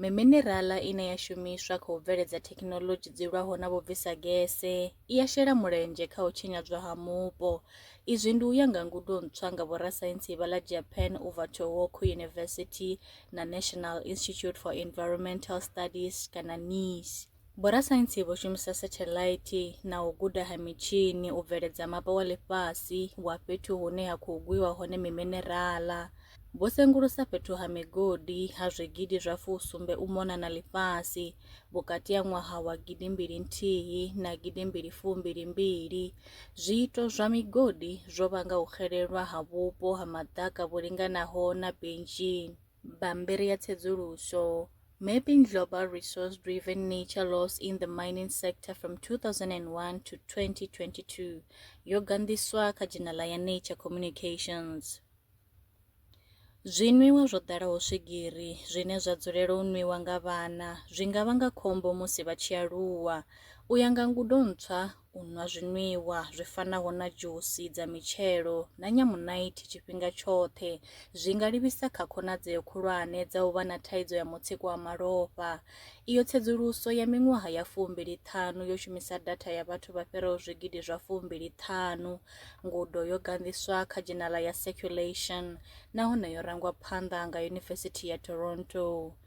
Miminerala ine ya shumiswa kha u bveledza thekhinoḽodzhi dzi lwaho na vhubvisagese i ya shela mulenzhe kha u tshinyadzwa ha mupo. Izwi ndi u ya nga ngudo ntswa nga vhorasaintsi vha ḽa Japan u bva Tohoku University na National Institute for Environmental Studies kana NISE. Vhorasaintsi vho shumisa sathelaithi na u guda ha mitshini u bveledza mapa wa ḽifhasi wa fhethu hune ha khou gwiwa hone miminerala. Vho sengulusa fhethu ha migodi ha zwigidi zwa fusumbe u mona na ḽifhasi vhukati ha ṅwaha wa gidi mbili nthihi na gidi mbili fumbili mbili. Zwiito zwa migodi zwo vhanga u xelelwa ha vhupo ha maḓaka vhu linganaho na benzhini. Bammbiri ya tsedzuluso, Mapping Global Resource Driven Nature Loss in the Mining Sector from 2001 to 2022 yo ganḓiswa kha dzhenala ya Nature Communications. Zwinwiwa zwo ḓalaho swigiri zwine zwa dzulela u nwiwa nga vhana zwi nga vhanga khombo musi vha tshi aluwa. U ya nga ngudo ntswa, u nwa zwinwiwa zwi fanaho na dzhusi dza mitshelo na nyamunaithi tshifhinga tshoṱhe zwi nga livhisa kha khonadzeo khulwane dza u vha na thaidzo ya mutsiko wa malofha. Iyo tsedzuluso ya miṅwaha ya fumbili ṱhanu yo shumisa datha ya vhathu vha fhiraho zwigidi zwa fumbili ṱhanu. Ngudo yo ganḓiswa kha dzhenala ya Circulation nahone yo rangwa phanḓa nga Yunivesithi ya Toronto.